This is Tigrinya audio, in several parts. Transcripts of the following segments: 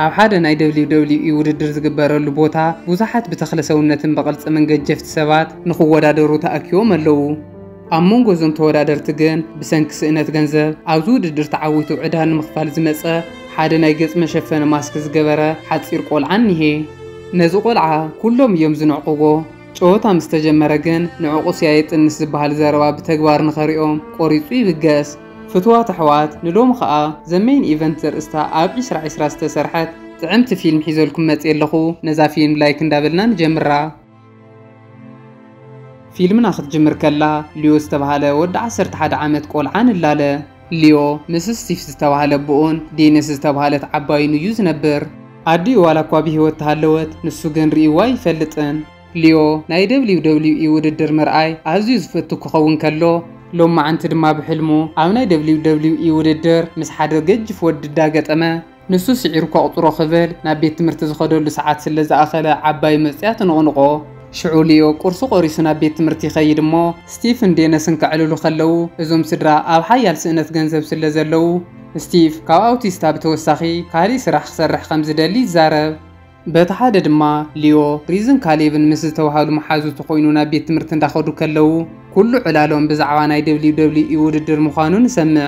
ኣብ ሓደ ናይ ደብሊው ደብሊው ኢ ውድድር ዝግበረሉ ቦታ ብዙሓት ብተኽለ ሰውነትን ብቕርጽምን ገጀፍቲ ሰባት ንኽወዳደሩ ተኣኪቦም ኣለዉ። ኣብ መንጎ እዞም ተወዳደርቲ ግን ብሰንኪ ስእነት ገንዘብ ኣብዚ ውድድር ተዓዊቱ ዕዳ ንምኽፋል ዝመጸ ሓደ ናይ ገጽ መሸፈኒ ማስክ ዝገበረ ሓጺር ቆልዓ እኒሀ። ነዚ ቆልዓ ኩሎም እዮም ዝንዕቕዎ። ጨወታ ምስ ተጀመረ ግን ንዕቑስ እያ የጥንስ ዝበሃል ዘረባ ብተግባር ንኸሪኦ ቆሪጹ ይብገስ። ፍቱዋት ኣሕዋት ንሎሚ ከኣ The Main Event ዘርእስታ ኣብ ዒስራ ዒስራ ዝተሰርሐት ጥዕምቲ ፊልም ሒዘልኩም መጽየ ኣለኹ። ነዛ ፊልም ላይክ እንዳበልና ንጀምራ። ፊልምና ክትጅምር ከላ ሊዮ ዝተባህለ ወዲ ዓሰርተ ሓደ ዓመት ቆልዓ ንላለ። ሊዮ ምስ ስቲፍ ዝተባህለ ኣቦኡን ዴኒስ ዝተባህለት ዓባዩን እዩ ዝነብር። ኣዲኡ ዋላኳ ብህይወት ተሃለወት፣ ንሱ ግን ርእይዋ ኣይፈልጥን። ሊዮ ናይ ደብሊው ደብሊው ኢ ውድድር ምርኣይ ኣዝዩ ዝፈቱ ክኸውን ከሎ፣ ሎማዕንቲ ድማ ብሕልሙ ኣብ ናይ ደብሊው ደብሊው ኢ ውድድር ምስ ሓደ ገጅፍ ወዲ ዳገጠመ። ንሱ ስዒሩ ከቑጽሮ ክብል ናብ ቤት ትምህርቲ ዝኸደሉ ሰዓት ስለ ዝኣኸለ ዓባዩ መጺኣ ትንቕንቖ። ሽዑ ሊዮ ቁርሱ ቆሪሱ ናብ ቤት ትምህርቲ ይኸይድ እሞ ስቲቭን ዴነስን ከዕልሉ ከለዉ እዞም ስድራ ኣብ ሓያል ስእነት ገንዘብ ስለ ዘለዉ ስቲቭ ካብ ኣውቲስታ ብተወሳኺ ካልእ ስራሕ ክሰርሕ ከም ዝደሊ ይዛረብ። በቲ ሓደ ድማ ሊዮ፣ ሪዝን ካሌብን ምስ ዝተባህሉ መሓዙቱ ኮይኑ ናብ ቤት ትምህርቲ እንዳኸዱ ከለዉ ኩሉ ዕላሎም ብዛዕባ ናይ ደብሊው ደብሊው ኢ ውድድር ምዃኑ ንሰምዕ።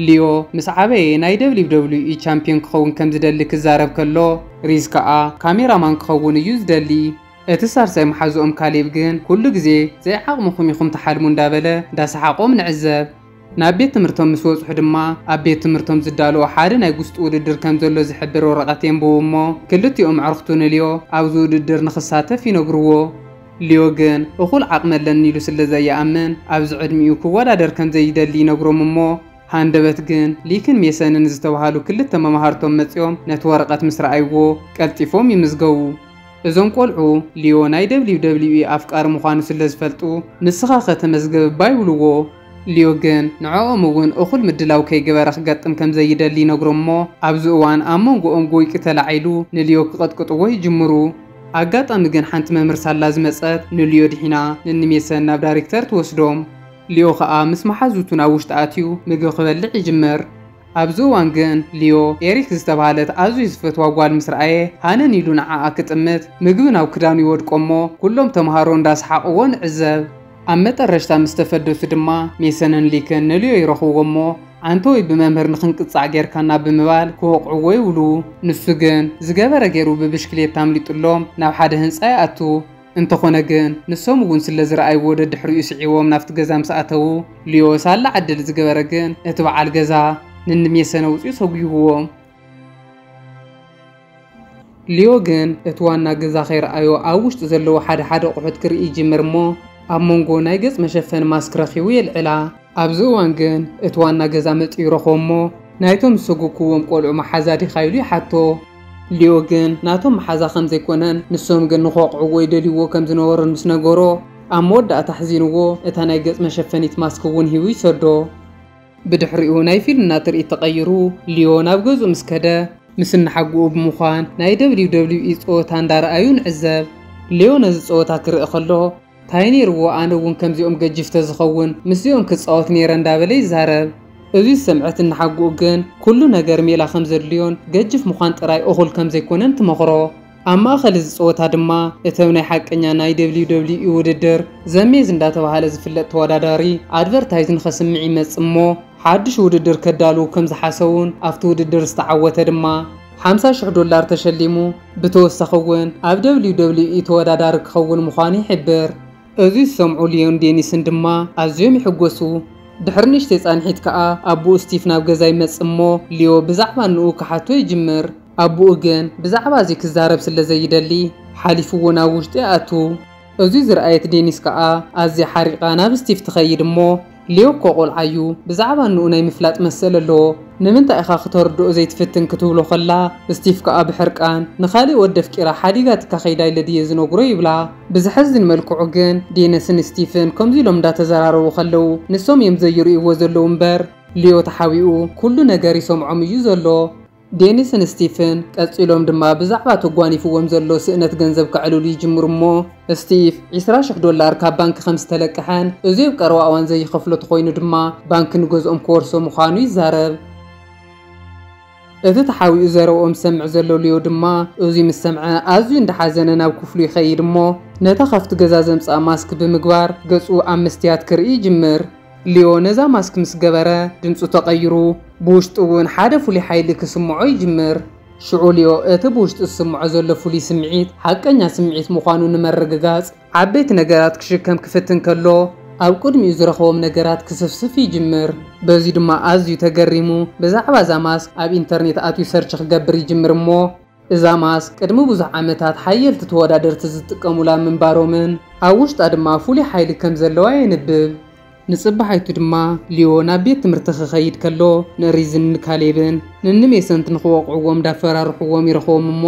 ሊዮ ምስ ዓበየ ናይ ደብሊው ደብሊው ኢ ቻምፒዮን ክኸውን ከም ዝደሊ ክዛረብ ከሎ፣ ሪዝ ከኣ ካሜራ ማን ክኸውን እዩ ዝደሊ። እቲ ሳልሳይ መሓዝኦም ካሌብ ግን ኩሉ ግዜ ዘይዓቕምኹም ኢኹም ትሓልሙ እንዳበለ እንዳሰሓቖም ንዕዘብ። ናብ ቤት ትምህርቶም ምስ በጽሑ ድማ ኣብ ቤት ትምህርቶም ዝዳለዎ ሓደ ናይ ጉስጢ ውድድር ከም ዘሎ ዝሕብር ወረቐት የንብቡ እሞ ክልቲኦም ኣዕሩኽቱ ንልዮ ኣብዚ ውድድር ንኽሳተፍ ይነግርዎ። ልዮ ግን እኹል ዓቕሚ ኣለኒ ኢሉ ስለ ዘይኣምን ኣብዚ ዕድሚኡ ክወዳደር ከም ዘይደሊ ይነግሮም እሞ ሃንደበት ግን ሊክን ሜሰንን ዝተባህሉ ክልተ መማህርቶም መጺኦም ነቲ ወረቐት ምስ ረኣይዎ ቀልጢፎም ይምዝገቡ። እዞም ቆልዑ ሊዮ ናይ ደብሊው ደብሊው ኢ ኣፍቃሪ ምዃኑ ስለ ዝፈልጡ ንስኻኸ ተመዝገብ እባ ይብልዎ። ሊዮ ግን ንዕኦም እውን እኹል ምድላው ከይገበረ ክገጥም ከም ዘይደሊ ይነግሮም እሞ ኣብዚ እዋን ኣብ መንጎኦም ጎይቂ ተላዒሉ ንሊዮ ክቕጥቅጥዎ ይጅምሩ። ኣጋጣሚ ግን ሓንቲ መምህር ሳላ ዝመጸት ንሊዮ ድሒና ንንሜሰን ናብ ዳሪክተር ትወስዶም። ሊዮ ከኣ ምስ መሓዙቱ ናብ ውሽጢ ኣትዩ ምግቢ ክበልዕ ይጅምር። ኣብዚ እዋን ግን ሊዮ፣ ኤሪክ ዝተባህለት ኣዝዩ ዝፈትዋ ጓል ምስ ረኣየ፣ ሃነን ኢሉ ንዓኣ ክጥምት፣ ምግቢ ናብ ክዳኑ ይወድቆ'ሞ፣ ኩሎም ተመሃሮ እንዳ ሰሓቕዎ ንዕዘብ። ኣብ መጠረሽታ ምስ ተፈደሱ ድማ፣ ሜሰንን ሊክን ንሊዮ ይረኽብዎ'ሞ፣ ዓንተወይ ብመምህር ንኽንቅጻዕ ጌርካና ብምባል ክወቕዕዎ ይውሉ። ንሱ ግን፣ ዝገበረ ጌሩ ብብሽክሌታ ኣምሊጡሎም ናብ ሓደ ህንጻ ይኣቱ። እንተኾነ ግን ንሶም እውን ስለ ዝረኣይዎ ደድሕሪኡ ስዒቦም ናብቲ ገዛ ምስ ኣተዉ ሊዮ ሳላ ዕድል ዝገበረ ግን እቲ በዓል ገዛ ንንሜሰን ኣውጺኡ ሰጒጉዎም። ሊዮ ግን እቲ ዋና ገዛ ከይረኣዮ ኣብ ውሽጢ ዘለዉ ሓደ ሓደ ኣቑሑት ክርኢ ይጅምር እሞ ኣብ መንጎ ናይ ገጽ መሸፈኒ ማስክ ረኺቡ የልዕላ። ኣብዚ እዋን ግን እቲ ዋና ገዛ መጺኡ ይረኽቦ እሞ ናይቶም ዝሰጎግኩዎም ቆልዑ መሓዛ ዲኻ ኢሉ ይሓቶ። ሊዮ ግን ናቶም መሓዛ ከም ዘይኰነን ንሶም ግን ንኽወቕዕዎ ይደልይዎ ከም ዝነበሩን ምስ ነገሮ፣ ኣብ መወዳእታ ኣሕዚንዎ እታ ናይ ገጽ መሸፈኒት ማስክ እውን ሂቡ ይሰዶ። ብድሕሪኡ ናይ ፊልምና ትርኢት ተቐይሩ ሊዮ ናብ ገዝኡ ምስ ከደ፣ ምስ እናሓጉኡ ብምዃን ናይ WWE ጸወታ እንዳረኣዩ ንዕዘብ። ሊዮ ነዚ ጸወታ ክርኢ ከሎ፣ ታይ ነይርዎ ኣነ ውን ከምዚኦም ገጂፍ ተዝኸውን ምስዚኦም ክፃወት ነይረ እንዳበለ ይዛረብ። እዙይ ዝሰምዐት እናሓጉኡ ግን ኩሉ ነገር ሜላ ከምዘድልዮን ገጅፍ ምዃን ጥራይ እኹል ከምዘይኮነን ትመኽሮ። ኣብ ማእኸል እዚ ፀወታ ድማ እተብ ናይ ሓቀኛ ናይ WWE ውድድር ዘሜዝ እንዳተብሃለ ዝፍለጥ ተወዳዳሪ ኣድቨርታይዝ ንኸስምዕ ይመፅእ እሞ ሓዱሽ ውድድር ከዳልዉ ከምዝሓሰቡን ኣብቲ ውድድር ዝተዓወተ ድማ ሓምሳ ሽሕ ዶላር ተሸሊሙ፣ ብተወሳኺ እውን ኣብ ደብሊው ደብሊው ኢ ተወዳዳሪ ክኸውን ምዃኑ ይሕብር። እዚ ዝሰምዑ ሊዮን ዴኒስን ድማ ኣዝዮም ይሕጎሱ። ድሕሪ ንእሽተይ ጻንሒት ከኣ ኣቡኡ ስቲፍ ናብ ገዛ ይመጽእ እሞ ሊዮ ብዛዕባ እንኡ ክሓቶ ይጅምር። ኣቡኡ ግን ብዛዕባ እዚ ክዛረብ ስለ ዘይደሊ ሓሊፍዎ ናብ ውሽጢ ይኣቱ። እዚ ዝረኣየት ዴኒስ ከኣ ኣዝያ ሓሪቓ ናብ ስቲፍ ትኸይድ እሞ ሌው እኮ ቆልዓ እዩ ብዛዕባ እንኡ ናይ ምፍላጥ መሰል ኣለዎ ንምንታይ ኢኻ ክተርድኦ ዘይትፍትን ክትብሎ ከላ ስቲፍ ከኣ ብሕርቃን ንኻሊእ ወዲ ኣፍቂራ ሓዲጋትካ ከይዳ ኢለ ድየ ዝነግሮ ይብላ ብዘሕዝን መልክዑ ግን ዴነስን ስቲፍን ከምዚ ኢሎም እንዳተዘራረቡ ከለው ንሶም እዮም ዘይርእይዎ ዘለው እምበር ሌዮ ተሓቢኡ ኩሉ ነገር ይሰምዖም እዩ ዘሎ። ዴኒስን ስቲፍን ቀጺሎም ድማ ብዛዕባ ተጓኒፍዎም ዘሎ ስእነት ገንዘብ ከዕልሉ ይጅምሩ እሞ፣ ስቲፍ ዕስራ ሽሕ ዶላር ካብ ባንኪ ከም ዝተለቀሐን እዚ ኣብ ቀረባ እዋን ዘይኸፍሎ ተኾይኑ ድማ ባንኪ ንገዝኦም ክወርሶ ምዃኑ ይዛረብ። እቲ ተሓቢኡ ዘረብኦም ዝሰምዕ ዘሎ ሊዮ ድማ እዚ ምስ ሰምዐ ኣዝዩ እንዳሓዘነ ናብ ክፍሉ ይኸይድ እሞ ነታ ካብቲ ገዛ ዘምጽኣ ማስክ ብምግባር ገጹ ኣብ መስትያት ክርኢ ይጅምር። ሊዮ ነዛ ማስክ ምስ ገበረ ድምጹ ተቐይሩ፣ ብውሽጡ እውን ሓደ ፍሉይ ሓይሊ ክስምዖ ይጅምር። ሽዑ ሊዮ እቲ ብውሽጡ ዝስምዖ ዘሎ ፍሉይ ስምዒት ሓቀኛ ስምዒት ምዃኑ ንምርግጋጽ ዓበይቲ ነገራት ክሽከም ክፍትን ከሎ ኣብ ቅድሚኡ ዝረኸቦም ነገራት ክስፍስፍ ይጅምር። በዚ ድማ ኣዝዩ ተገሪሙ ብዛዕባ እዛ ማስክ ኣብ ኢንተርኔት ኣትዩ ሰርች ክገብር ይጅምር እሞ፣ እዛ ማስክ ቅድሚ ብዙሕ ዓመታት ሓየልቲ ተወዳደርቲ ዝጥቀሙላ ምንባሮምን ኣብ ውሽጣ ድማ ፍሉይ ሓይሊ ከም ዘለዋ የንብብ። ንጽባሒቱ ድማ ሊዮ ናብ ቤት ትምህርቲ ክኸይድ ከሎ ንሪዝን ንካሌብን ንንሜሰንት ንኽወቕዕዎም እንዳፈራርሕዎም ይረኽቦም እሞ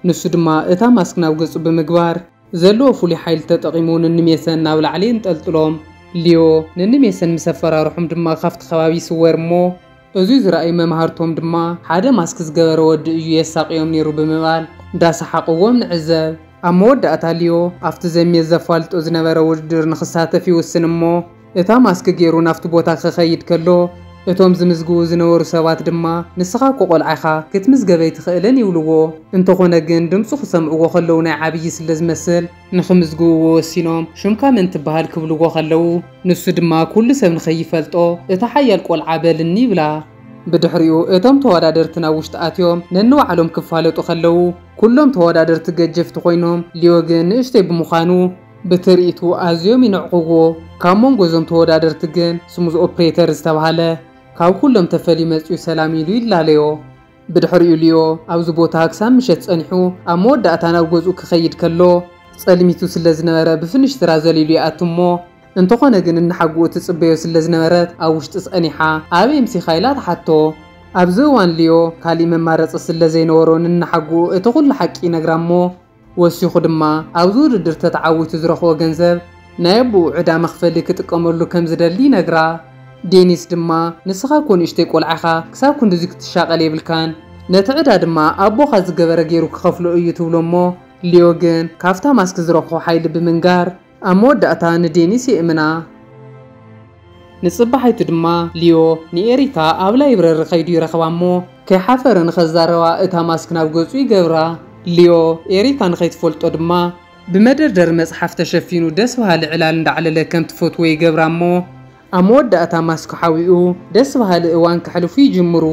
ንሱ ድማ እታ ማስክ ናብ ገጹ ብምግባር ዘለዎ ፍሉይ ሓይሊ ተጠቒሙ ንንሜሰን ናብ ላዕሊ የንጠልጥሎም። ሊዮ ንንሜሰን ምስ ኣፈራርሖም ድማ ካብቲ ከባቢ ይስወር እሞ እዙይ ዝረኣዩ መማህርቶም ድማ ሓደ ማስክ ዝገበረ ወዲ እዩ የሳቕዮም ነይሩ ብምባል እንዳሰሓቕዎም ንዕዘብ። ኣብ መወዳእታ ሊዮ ኣብቲ ዘሚየስ ዘፋልጦ ዝነበረ ውድድር ንኽሳተፍ ይውስን እሞ፣ እታ ማስክ ጌሩ ናብቲ ቦታ ክኸይድ ከሎ፣ እቶም ዝምዝግቡ ዝነበሩ ሰባት ድማ፣ ንስኻ እኮ ቆልዓ ኢኻ፣ ክትምዝገብ ኣይትኽእልን ይብልዎ። እንተኾነ ግን ድምጹ ክሰምዕዎ ከለዉ ናይ ዓብዪ ስለ ዝመስል፣ ንኽምዝግብዎ ወሲኖም፣ ሽምካ መን ትበሃል ክብልዎ ከለዉ፣ ንሱ ድማ ኩሉ ሰብ ንኸይፈልጦ፣ እታ ሓያል ቆልዓ በልኒ ይብላ። ብድሕሪኡ እቶም ተወዳደርቲ ናብ ውሽጢ ኣትዮም ነንባዕሎም ክፋለጡ ከለዉ፣ ኩሎም ተወዳደርቲ ገጀፍቲ ኮይኖም፣ ሊዮ ግን ንእሽተይ ብምዃኑ፣ ብትርኢቱ ኣዝዮም ይንዕቕዎ። ካብ መንጎ እዞም ተወዳደርቲ ግን ስሙዝ ኦፕሬተር ዝተብሃለ ካብ ኩሎም ተፈልዩ መጺኡ ሰላም ኢሉ ይላለዮ። ብድሕሪኡ ሊዮ ኣብዚ ቦታ ክሳብ ምሸት ጸኒሑ ኣብ መወዳእታ ናብ ገዝኡ ክኸይድ ከሎ ጸልሚቱ ስለ ዝነበረ ብፍንሽትራ ዘሊሉ ይኣቱ እሞ እንተኾነ ግን እናሓጉኡ ትጽበዮ ስለ ዝነበረት ኣብ ውሽጢ ጸኒሓ ኣበይ ኣምሲኻ ኢላ ትሓቶ። ኣብዚ እዋን ሊዮ ካሊእ መማረጺ ስለ ዘይነበሮ ንእናሓጉኡ እቲ ኩሉ ሓቂ ይነግራ እሞ ወሲኹ ድማ ኣብዚ ውድድር ተተዓዊቱ ዝረኽቦ ገንዘብ ናይ ኣቡኡ ዕዳ መኽፈሊ ክጥቀመሉ ከም ዝደሊ ይነግራ። ዴኒስ ድማ ንስኻ እኮ ንእሽተይ ቆልዓ ኢኻ ክሳብ ክንድዙይ ክትሻቐል የብልካን ነቲ ዕዳ ድማ ኣቦኻ ዝገበረ ገይሩ ክኸፍሎ እዩ ትብሎ እሞ ሊዮ ግን ካብታ ማስክ ዝረኽቦ ሓይሊ ብምንጋር ኣብ መወዳእታ ንዴኒስ የእምና። ንጽባሒቱ ድማ ሊዮ ንኤሪካ ኣብ ላይብረሪ ከይዱ ይረኽባ እሞ ከይሓፈረ ንኸዛረባ እታ ማስክ ናብ ገጹ ይገብራ። ሊዮ ኤሪካ ንኸይትፈልጦ ድማ ብመደርደሪ መጽሓፍ ተሸፊኑ ደስ በሃሊ ዕላል እንዳዕለለ ከም ትፈትዎ ይገብራ እሞ ኣብ መወዳእታ ማስክ ሓዊኡ ደስ በሃሊ እዋን ከሕልፉ ይጅምሩ።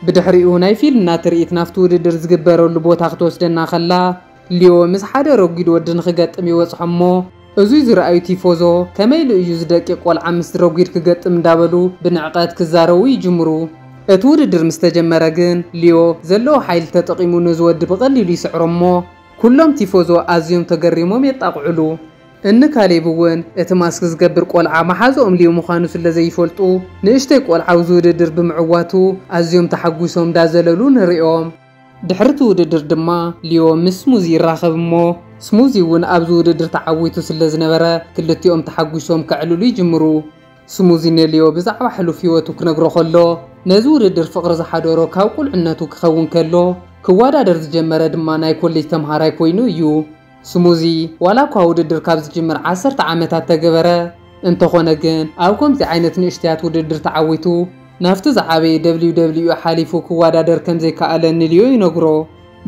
ብድሕሪኡ ናይ ፊልና ትርኢት ናብቲ ውድድር ዝግበረሉ ቦታ ክትወስደና ከላ፣ ሊዮ ምስ ሓደ ረጒድ ወዲ ንኽገጥም ይበጽሖም እሞ፣ እዙይ ዝረኣዩ ቲፎዞ፣ ከመይ ኢሉ እዩ እዚ ደቂቕ ቆልዓ ምስዚ ረጒድ ክገጥም እንዳበሉ ብንዕቐት ክዛረቡ ይጅምሩ። እቲ ውድድር ምስ ተጀመረ ግን፣ ሊዮ ዘለዎ ሓይሊ ተጠቒሙ ነዚ ወዲ ብቐሊሉ ይስዕሮ እሞ፣ ኩሎም ቲፎዞ ኣዝዮም ተገሪሞም የጣቕዑሉ። እኒ ካሌብ እውን እቲ ማስክ ዝገብር ቆልዓ መሓዝኦም ሊዮ ምዃኑ ስለ ዘይፈልጡ፣ ንእሽተይ ቆልዓ ኣብዚ ውድድር ብምዕዋቱ ኣዝዮም ተሓጒሶም እንዳዘለሉ ንርእዮም። ድሕሪ እቲ ውድድር ድማ ሊዮ ምስ ስሙዚ ይራኸብ እሞ ስሙዚ እውን ኣብዚ ውድድር ተዓዊቱ ስለ ዝነበረ ክልቲኦም ተሓጒሶም ከዕልሉ ይጅምሩ። ስሙዚ ንሊዮ ብዛዕባ ሕሉፍ ህይወቱ ክነግሮ ከሎ ነዚ ውድድር ፍቕሪ ዝሓደሮ ካብ ቁልዕነቱ ክኸውን ከሎ ክወዳደር ዝጀመረ ድማ ናይ ኮሌጅ ተምሃራይ ኮይኑ እዩ። ስሙዚ ዋላኳ ውድድር ካብ ዝጅምር ዓሰርተ ዓመታት ተገበረ፣ እንተኾነ ግን ኣብ ከምዚ ዓይነት ንእሽተያት ውድድር ተዓዊቱ ናብቲ ዝዓበየ WWE ሓሊፉ ክወዳደር ከምዘይከኣለ ንሊዮ ይነግሮ።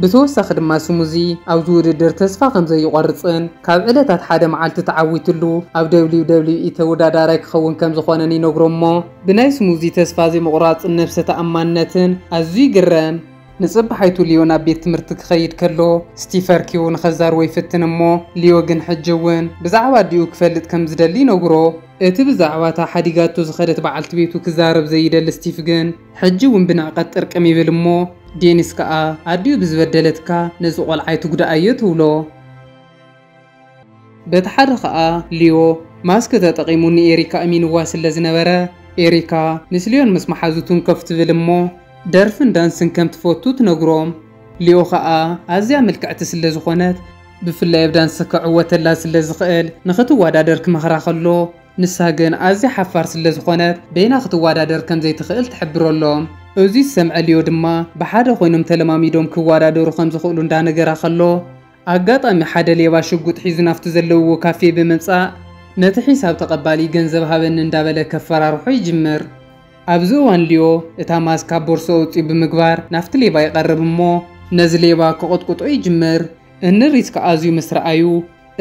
ብተወሳኺ ድማ ስሙዚ ኣብዚ ውድድር ተስፋ ከምዘይቖርጽን ካብ ዕለታት ሓደ መዓልቲ ተዓዊትሉ ኣብ WWE ተወዳዳራይ ክኸውን ከምዝኾነን ይነግሮ'ሞ ብናይ ስሙዚ ተስፋ ዘይምቑራጽን ነብሰ ተኣማንነትን ኣዝዩ ይግረም። ንጽባሒቱ ሊዮ ናብ ቤት ትምህርቲ ክኸይድ ከሎ፣ ስቲፈር ኪው ንኸዛርቦ ይፍትን እሞ፣ ሊዮ ግን ሕጂ እውን ብዛዕባ ኣዲኡ ክፈልጥ ከም ዝደሊ ይነግሮ። እቲ ብዛዕባ እታ ሓዲጋቶ ዝኸደት በዓልቲ ቤቱ ክዛረብ ዘይደሊ ስቲፍ ግን ሕጂ እውን ብንዕቀት ጥርቅም ይብል እሞ፣ ዴኒስ ከኣ ኣዲኡ ብዝበደለትካ ነዚ ቆልዓ ኣይትጉድኣዮ ትብሎ። በቲ ሓደ ከኣ ሊዮ ማስክ ተጠቒሙ ንኤሪካ እሚንዋ ስለ ዝነበረ ኤሪካ ምስ ሊዮን ምስ መሓዙቱን ከፍ ትብል እሞ ደርፍን ዳንስን ከም ትፈቱ ትነግሮም ሊዮ ከኣ ኣዝያ ምልክዕቲ ስለ ዝኾነት ብፍላይ ኣብ ዳንስ ክዕወተላ ስለ ዝኽእል ንኽትዋዳደር ክመኽራ ከሎ ንሳ ግን ኣዝያ ሓፋር ስለ ዝኾነት በይና ክትዋዳደር ከም ዘይትኽእል ትሕብረሎም እዙይ ዝሰምዐ ሊዮ ድማ ብሓደ ኮይኖም ተለማሚዶም ክዋዳደሩ ከም ዝኽእሉ እንዳነገራ ከሎ ኣጋጣሚ ሓደ ሌባ ሽጉጥ ሒዙ ናፍቲ ዘለውዎ ካፌ ብምምጻእ ነቲ ሒሳብ ተቐባሊ ገንዘብ ሃበኒ እንዳበለ ከፈራርሖ ይጅምር። ኣብዚ እዋን ሊዮ እታ ማስክ ካብ ቦርሶ ኣውጺኡ ብምግባር ናፍቲ ሌባ ይቐርብ እሞ ነዚ ሌባ ክቕጥቁጦ ይጅምር። እንድሪስካ ኣዝዩ ምስ ረኣዩ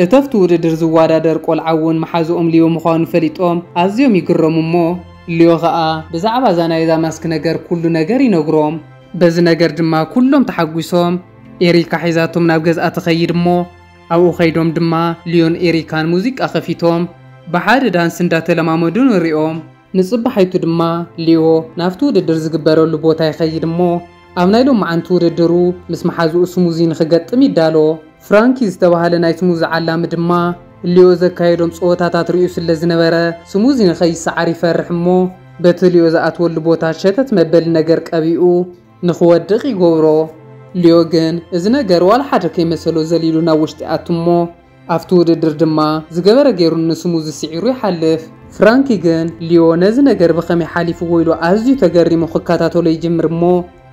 እተፍቲ ውድድር ዝዋዳደር ቆልዓ እውን መሓዝኦም ሊዮ ምዃኑ ፈሊጦም ኣዝዮም ይግረሙ እሞ ሊዮ ከኣ ብዛዕባ እዛ ናይዛ ማስክ ነገር ኩሉ ነገር ይነግሮም። በዚ ነገር ድማ ኩሎም ተሓጒሶም ኤሪካ ሒዛቶም ናብ ገዝኣ ትኸይድ እሞ ኣብኡ ከይዶም ድማ ልዮን ኤሪካን ሙዚቃ ከፊቶም ብሓደ ዳንስ እንዳተለማመዱ ንሪኦም። ንጽባሓይቱ ድማ ልዮ ናብቲ ውድድር ዝግበረሉ ቦታ ይኸይድ እሞ ኣብ ናይ ሎማዓንቲ ውድድሩ ምስ መሓዝኡ ስሙዚ ንክገጥም ይዳሎ። ፍራንኪ ዝተባህለ ናይ ስሙዚ ዓላሚ ድማ ልዮ ዘካየዶም ጸወታታት ሪኡ ስለዝነበረ ስሙዚ ንከይሰዓር ይፈርሕ እሞ በቲ ልዮ ዝኣትወሉ ቦታ ሸተት መበሊ ነገር ቀቢኡ ንኽወድቕ ይገብሮ። ልዮ ግን እዚ ነገር ዋላ ሓደ ከይመሰሎ ዘሊሉ ናብ ውሽጢ ይኣቱ እሞ ኣብቲ ውድድር ድማ ዝገበረ ገይሩ ንስሙዚ ስዒሩ ይሓልፍ። ፍራንኪ ግን ልዮ ነዚ ነገር ብኸመይ ሓሊፍዎ ኢሉ ኣዝዩ ተገሪሙ ክከታተሎ ይጅምር እሞ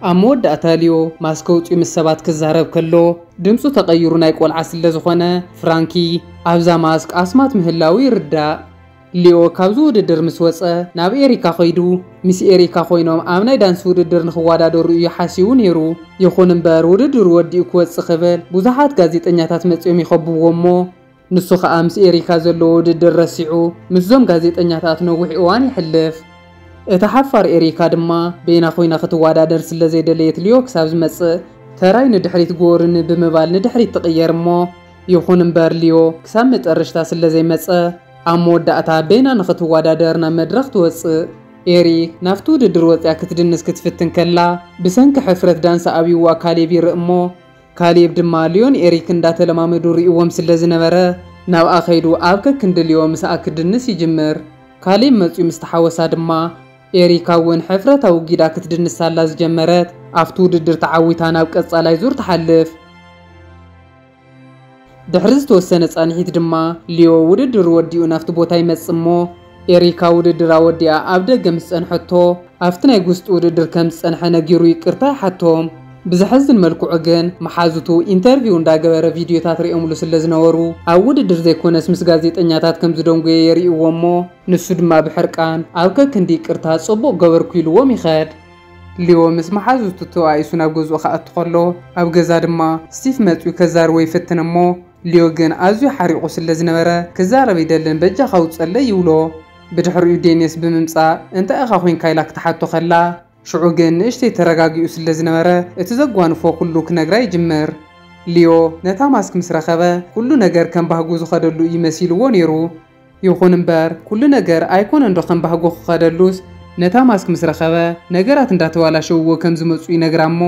ኣብ መወዳእታ ልዮ ማስክ ኣውጺኡ ምስ ሰባት ክዛረብ ከሎ ድምጹ ተቐይሩ ናይ ቆልዓ ስለዝኾነ ፍራንኪ ኣብዛ ማስክ ኣስማት ምህላዉ ይርዳእ። ሊዮ ካብዚ ውድድር ምስ ወጸ ናብ ኤሪካ ከይዱ። ምስ ኤሪካ ኮይኖም ኣብ ናይ ዳንስ ውድድር ንኽወዳደሩ እዩ ሓሲቡ ነይሩ። ይኹን እምበር ውድድሩ ወዲኡ ክወጽእ ክብል ብዙሓት ጋዜጠኛታት መጺኦም ይኸብብዎ እሞ ንሱ ከኣ ምስ ኤሪካ ዘለዎ ውድድር ረሲዑ ምስዞም ጋዜጠኛታት ነዊሕ እዋን የሕልፍ። እታ ሓፋር ኤሪካ ድማ በይና ኮይና ክትወዳደር ስለ ዘይደለየት ሊዮ ክሳብ ዝመጽእ ተራይ ንድሕሪት ጎርኒ ብምባል ንድሕሪት ትቕየር እሞ ይኹን እምበር ሊዮ ክሳብ መጠረሽታ ስለ ዘይመጸ፣ ኣብ መወዳእታ በይና ንኽትወዳደር ናብ መድረኽ ትወጽእ። ኤሪክ ናብቲ ውድድር ወጺኣ ክትድንስ ክትፍትን ከላ ብሰንኪ ሕፍረት ዳንሳ ኣብዩዋ ካሌብ ይርእ እሞ ካሌብ ድማ ልዮን ኤሪክ እንዳተለማመዱ ሪኡዎም ስለዝነበረ ናብኣ ከይዱ ኣብ ከክንዲ ልዮ ምሳኣ ክድንስ ይጅምር። ካሌብ መጽዩ ምስ ተሓወሳ ድማ ኤሪካ እውን ሕፍረት ኣውጊዳ ክትድንስ ሳላ ዝጀመረት ኣብቲ ውድድር ተዓዊታ ናብ ቀጻላይ ዙር ትሓልፍ። ድሕሪ ዝተወሰነ ጻንሒት ድማ ሊዮ ውድድሩ ወዲኡ ናብቲ ቦታ ይመጽእ እሞ ኤሪካ ውድድራ ወዲኣ ኣብ ደገ ምስ ጸንሐቶ ኣብቲ ናይ ጉስጢ ውድድር ከም ዝጸንሐ ነጊሩ ይቅርታ ይሓቶም። ብዘሐዝን መልክዑ ግን መሓዙቱ ኢንተርቪው እንዳገበረ ቪድዮታት ሪኦምሉ ስለ ዝነበሩ ኣብ ውድድር ዘይኮነስ ምስ ጋዜጠኛታት ከም ዝደንጎየ የሪእዎ እሞ ንሱ ድማ ብሕርቃን ኣብ ከክንዲ ይቅርታ ጽቡቅ ገበርኩ ኢልዎም ይኸድ። ሊዮ ምስ መሓዙቱ ተባኢሱ ናብ ገዝኡ ክኣቱ ከሎ፣ ኣብ ገዛ ድማ ስቲፍ መጺኡ ከዛርቦ ይፍትን እሞ ሊዮ ግን ኣዝዩ ሓሪቑ ስለ ዝነበረ ክዛረብ ኣይደልን በጃኻ ውጸለይ ይብሎ። ብድሕሪኡ ዴንየስ ብምምጻእ እንታይ ኢኻ ኮይንካ ኢላ ክትሓቶ ከላ ሽዑ ግን ንእሽተይ ተረጋጊኡ ስለ ዝነበረ እቲ ዘጓንፎ ኩሉ ክነግራ ይጅምር። ሊዮ ነታ ማስክ ምስ ረኸበ ኩሉ ነገር ከም ባህጉ ዝኸደሉ እዩ መሲልዎ ኔሩ። ይኹን እምበር ኩሉ ነገር ኣይኮነን ዶ ከም ባህጉ ክኸደሉስ ነታ ማስክ ምስ ረኸበ ነገራት እንዳተባላሸውዎ ከም ዝመጹ ይነግራ እሞ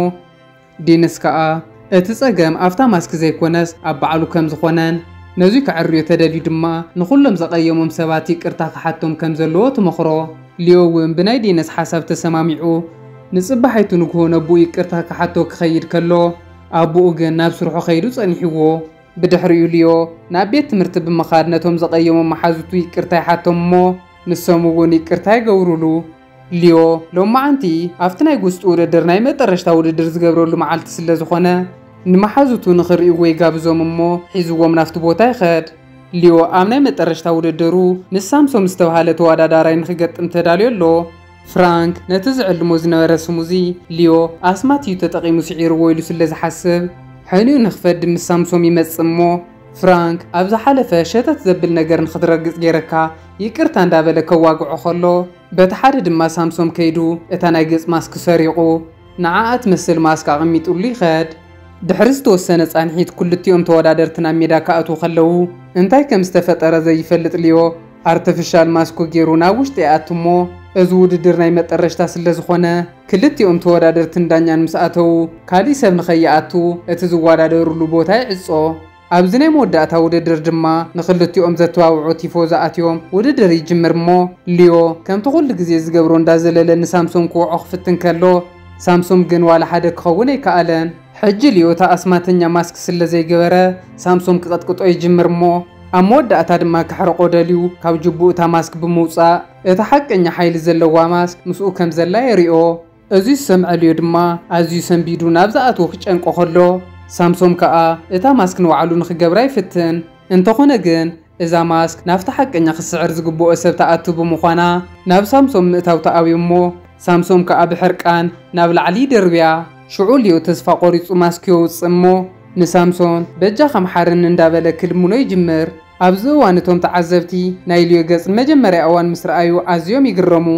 ዲንስ ከኣ እቲ ጸገም ኣብታ ማስክ ዘይኮነስ ኣብ ባዕሉ ከም ዝኾነን ነዙይ ከዐርዮ ተደልዩ ድማ ንኹሎም ዘቐየሞም ሰባት ይቅርታ ክሓቶም ከም ዘለዎ ትመኽሮ። ሊዮ እውን ብናይ ዲንስ ሓሳብ ተሰማሚዑ ንጽባሒቱ ንግሆ ነቡኡ ይቅርታ ክሓቶ ክኸይድ ከሎ ኣቡኡ ግን ናብ ስርሑ ከይዱ ጸኒሕዎ። ብድሕሪኡ ሊዮ ናብ ቤት ትምህርቲ ብምኻድ ነቶም ዘቐየሞም መሓዙቱ ይቅርታ ይሓቶም እሞ ንሶም እውን ይቅርታ ይገብሩሉ። ሊዮ ሎማዓንቲ ኣብቲ ናይ ጉስጢ ውድድር ናይ መጠረሽታ ውድድር ዝገብረሉ መዓልቲ ስለ ዝኾነ ንመሓዙቱ ንኽሪእዎ ይጋብዞም እሞ ሒዝዎም ናፍቲ ቦታ ይኸድ። ሊዮ ኣብ ናይ መጠረሽታ ውድድሩ ምስ ሳምሶም ዝተብሃለ ተዋዳዳራይ ንኽገጥም ተዳልዮ ኣሎ። ፍራንክ ነቲ ዝዕልሞ ዝነበረ ስሙዚ ሊዮ ኣስማት እዩ ተጠቒሙ ስዒርዎ ኢሉ ስለ ዝሓስብ፣ ሕንኡ ንኽፈዲ ምስ ሳምሶም ይመጽእ እሞ፣ ፍራንክ ኣብ ዝሓለፈ ሸተት ዘብል ነገር ንኽትረግጽ ገይረካ ይቅርታ እንዳበለ ከዋግዖ ከሎ፣ በቲ ሓደ ድማ ሳምሶም ከይዱ እታ ናይ ገጽ ማስክ ሰሪቑ ንዓኣ ትመስል ማስክ ኣቐሚጥሉ ይኸድ። ድሕሪ ዝተወሰነ ጻንሒት ክልቲኦም ተወዳደርቲ ናብ ሜዳ ክኣትዉ ከለዉ እንታይ ከም ዝተፈጠረ ዘይፈልጥ ሊዮ፣ ኣርተፍሻል ማስኮ ጌሩ ናብ ውሽጢ ይኣቱ እሞ እዚ ውድድር ናይ መጠረሽታ ስለዝኾነ ክልቲኦም ተወዳደርትን ዳኛን ምስ ኣተዉ ካሊእ ሰብ ንኸይኣቱ እቲ ዝወዳደርሉ ቦታ ይዕጾ። ኣብዚ ናይ መወዳእታ ውድድር ድማ ንኽልቲኦም ዘተባብዑ ቲፎዞ ኣትዮም ውድድር ይጅምር እሞ ሊዮ ከምቲ ኩሉ ግዜ ዝገብሮ እንዳዘለለ ንሳምሶም ክወዖ ክፍትን ከሎ ሳምሶም ግን ዋላ ሓደ ክኸውን ኣይከኣለን። ሕጂ ልዮ እታ ኣስማተኛ ማስክ ስለ ዘይገበረ ሳምሶም ክቕጥቅጦ ይጅምር እሞ ኣብ መወዳእታ ድማ ከሕርቖ ደልዩ ካብ ጁቡኡ እታ ማስክ ብምውጻእ እታ ሓቀኛ ሓይሊ ዘለዋ ማስክ ምስኡ ከም ዘላ የሪኦ። እዚ ዝሰምዐ ልዮ ድማ ኣዝዩ ሰንቢዱ ናብ ዝኣትዎ ክጨንቆ ከሎ ሳምሶም ከኣ እታ ማስክ ንባዕሉ ንኽገብራ ይፍትን። እንተኾነ ግን እዛ ማስክ ናብቲ ሓቀኛ ክስዕር ዝግብኦ ሰብ ትኣቱ ብምዃና ናብ ሳምሶም ምእታው ተኣብዩ እሞ ሳምሶም ከኣ ብሕርቃን ናብ ላዕሊ ይድርብያ። ሽዑ ሊዮ ተስፋ ቆሪጹ ማስክ የውጽእ እሞ ንሳምሶን በጃኻ ምሓረኒ እንዳበለ ክልምኖ ይጅምር። ኣብዚ እዋን እቶም ተዓዘብቲ ናይ ሊዮ ገጽ ንመጀመርያ እዋን ምስ ረኣዩ ኣዝዮም ይግረሙ።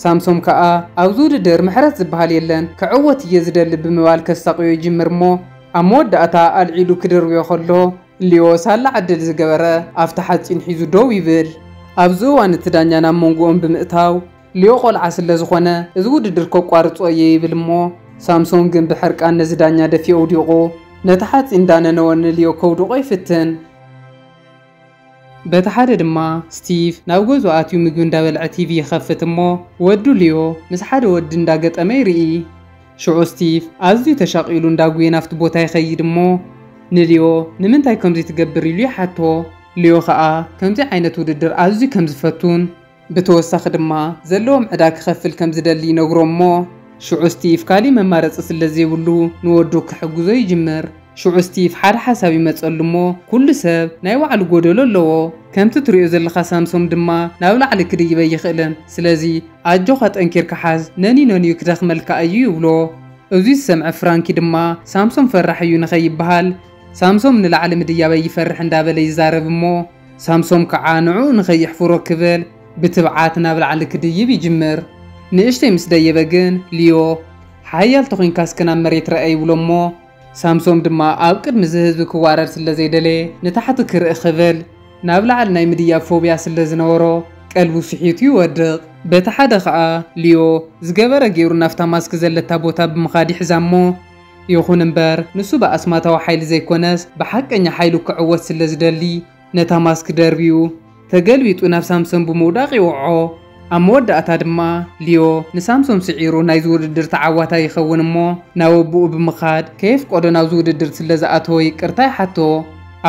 ሳምሶም ከኣ ኣብዚ ውድድር ምሕረት ዝብሃል የለን ክዕወት እየ ዝደሊ ብምባል ከሳቕዮ ይጅምር እሞ ኣብ መወዳእታ ኣልዒሉ ክድርብዮ ከሎ ሊዮ ሳላ ዕድል ዝገበረ ኣፍቲ ሓጺን ሒዙ ደው ይብል። ኣብዚ እዋን እቲ ዳኛ ናብ መንጎኦም ብምእታው፣ ሊዮ ቆልዓ ስለ ዝኾነ እዚ ውድድር ከቋርጾ እየ ይብል እሞ ሳምሶን ግን ብሕርቃን ነዚ ዳኛ ደፊኡ ኣውዲቑ ነቲ ሓጺን እንዳነነወ ንሊዮ ከውድቖ ይፍትን። በቲ ሓደ ድማ ስቲቭ ናብ ገዝኡ ኣትዩ ምግቢ እንዳበልዐ ቲቪ ይኸፍት እሞ ወዱ ሊዮ ምስ ሓደ ወዲ እንዳገጠመ ይርኢ። ሽዑ ስቲቭ ኣዝዩ ተሻቒሉ እንዳጉየ ናብቲ ቦታ ይኸይድ እሞ ንልዮ ንምንታይ ከምዚ ትገብር ኢሉ ይሓቶ። ልዮ ከኣ ከምዚ ዓይነት ውድድር ኣዝዩ ከም ዝፈቱን ብተወሳኺ ድማ ዘለዎም ዕዳ ክኸፍል ከም ዝደሊ ይነግሮ እሞ ሽዑ ስቲቭ ካሊእ መማረጺ ስለ ዘይብሉ ንወዱ ክሕግዞ ይጅምር። ሽዑ ስቲቭ ሓደ ሓሳብ ይመጸሉ እሞ ኩሉ ሰብ ናይ ባዕሉ ጎደሎ ኣለዎ ከምቲ ትሪኦ ዘለካ ሳምሶም ድማ ናብ ላዕሊ ክድይብ ኣይክእልን ስለዚ ኣጆካ ጠንኪርካ ሓዝ ነኒነኒኡ ክደክመልካ ኣዩ ይብሎ እዙይ ዝሰምዐ ፍራንኪ ድማ ሳምሶም ፈራሕ እዩ ንከይብሃል ሳምሶም ንላዕሊ ምድያብ ኣይፈርሕ እንዳበለ ይዛረብ እሞ ሳምሶም ከዓ ንዕኡ ንከይሕፍሮ ክብል ብትብዓት ናብ ላዕሊ ክድይብ ይጅምር ንእሽተይ ምስ ደየበ ግን ሊዮ ሓያል ተኮይንካ እስከ ናብ መሬት ረኣ ይብሎ እሞ ሳምሶም ድማ ኣብ ቅድሚ እዚ ህዝቢ ክዋረድ ስለ ዘይደለየ ንታሕቲ ክርኢ ክብል ናብ ላዕሊ ናይ ምድያብ ፎብያ ስለ ዝነበሮ ቀልቡ ስሒቱ ይወድቕ። በቲ ሓደ ከኣ ሊዮ ዝገበረ ገይሩ ናብታ ማስክ ዘለታ ቦታ ብምኻድ ይሕዛ እሞ ይኹን እምበር ንሱ ብኣስማታዊ ሓይሊ ዘይኮነስ ብሓቀኛ ሓይሉ ክዕወት ስለ ዝደሊ ነታ ማስክ ደርብዩ ተገልቢጡ ናብ ሳምሶን ብምውዳቕ ይወዕዖ። ኣብ መወዳእታ ድማ ሊዮ ንሳምሶን ስዒሩ ናይዚ ውድድር ተዓዋታይ ይኸውን እሞ ናብ ኣቡኡ ብምኻድ ከየፍቀዶ ናብዚ ውድድር ስለ ዝኣተወ ይቅርታ ይሓቶ።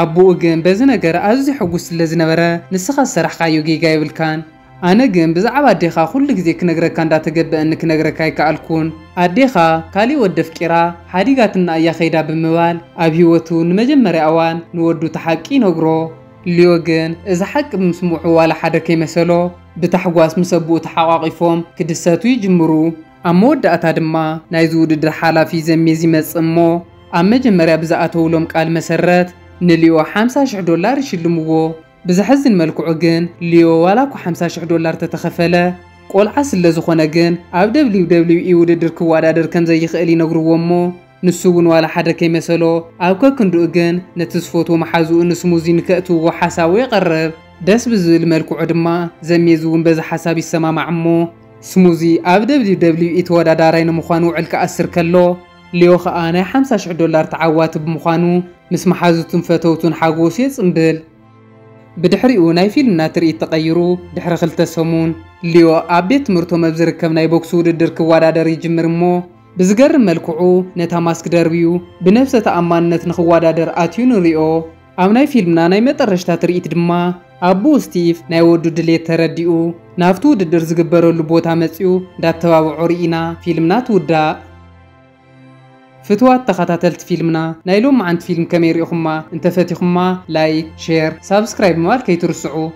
ኣቡኡ ግን በዚ ነገር ኣዝዩ ሕጉስ ስለ ዝነበረ ንስኻ ዝሰራሕኻዮ ጌጋ የብልካን። ኣነ ግን ብዛዕባ ኣዴኻ ኩሉ ግዜ ክነግረካ እንዳ ተገበኣኒ ክነግረካ ኣይከኣልኩን ኣዴኻ ካሊእ ወዲ ኣፍቂራ ሓዲጋትና እያ ከይዳ ብምባል ኣብ ሂወቱ ንመጀመርያ ኣዋን ንወዱ እቲ ሓቂ ይነግሮ። ሊዮ ግን እዚ ሓቂ ብምስምዑ ዋላ ሓደ ከይመሰሎ ብታሕጓስ ምስ ኣቡኡ ተሓቋቂፎም ክድሰቱ ይጅምሩ። ኣብ መወዳእታ ድማ ናይዚ ውድድር ሓላፊ ዘሜዝ ይመጽእ እሞ ኣብ መጀመርያ ብዝኣተውሎም ቃል መሰረት ንሊዮ ሓምሳ ሽሕ ዶላር ይሽልምዎ። ብዘሕዝን መልክዑ ግን ሊዮ ዋላ እኳ ሓምሳ ሽሕ ዶላር ተተኸፈለ ቆልዓ ስለዝኾነ ግን ኣብ ደብሊው ደብሊው ኢ ውድድር ክወዳደር ከምዘይኽእል ይነግርዎ እሞ ንሱ እውን ዋላ ሓደ ከይመሰሎ ኣብ ከክንድኡ ግን ነቲ ዝፈትዎ መሓዝኡ ንስሙዚ ንከእትውዎ ሓሳቡ የቐርብ። ደስ ብዝብል መልክዑ ድማ ዘሜዝ እውን በዚ ሓሳብ ይሰማማዕ እሞ ስሙዚ ኣብ ደብሊው ደብሊው ኢ ተወዳዳራይ ንምዃን ውዕል ክኣስር ከሎ ሊዮ ከኣ ናይ ሓምሳ ሽሕ ዶላር ተዓዋቲ ብምዃኑ ምስ መሓዙቱን ፈተውቱን ሓጎሱ የጽንብል። ብድሕሪኡ ናይ ፊልምና ትርኢት ተቐይሩ ድሕሪ ክልተ ሰሙን፣ ሊዮ ኣብ ቤት ትምህርቶም ኣብ ዝርከብ ናይ ቦክሲ ውድድር ክወዳደር ይጅምር እሞ ብዝገርም መልክዑ ነታ ማስክ ደርብዩ ብነብሰ ተኣማንነት ንኽወዳደር ኣትዩ ንሪኦ። ኣብ ናይ ፊልምና ናይ መጠረሽታ ትርኢት ድማ ኣቡኡ ስቲቭ ናይ ወዱ ድሌት ተረዲኡ ናብቲ ውድድር ዝግበረሉ ቦታ መጺኡ እንዳተባብዖ ሪኢና ፊልምና ትውዳእ። ፍትዋት ተኻታተልቲ ፊልምና ናይ ሎምዓንቲ ፊልም ከመይ ሪኢኹማ እንተፈቲኹማ ላይክ ሼር ሳብስክራይብ ምባል ከይትርስዑ።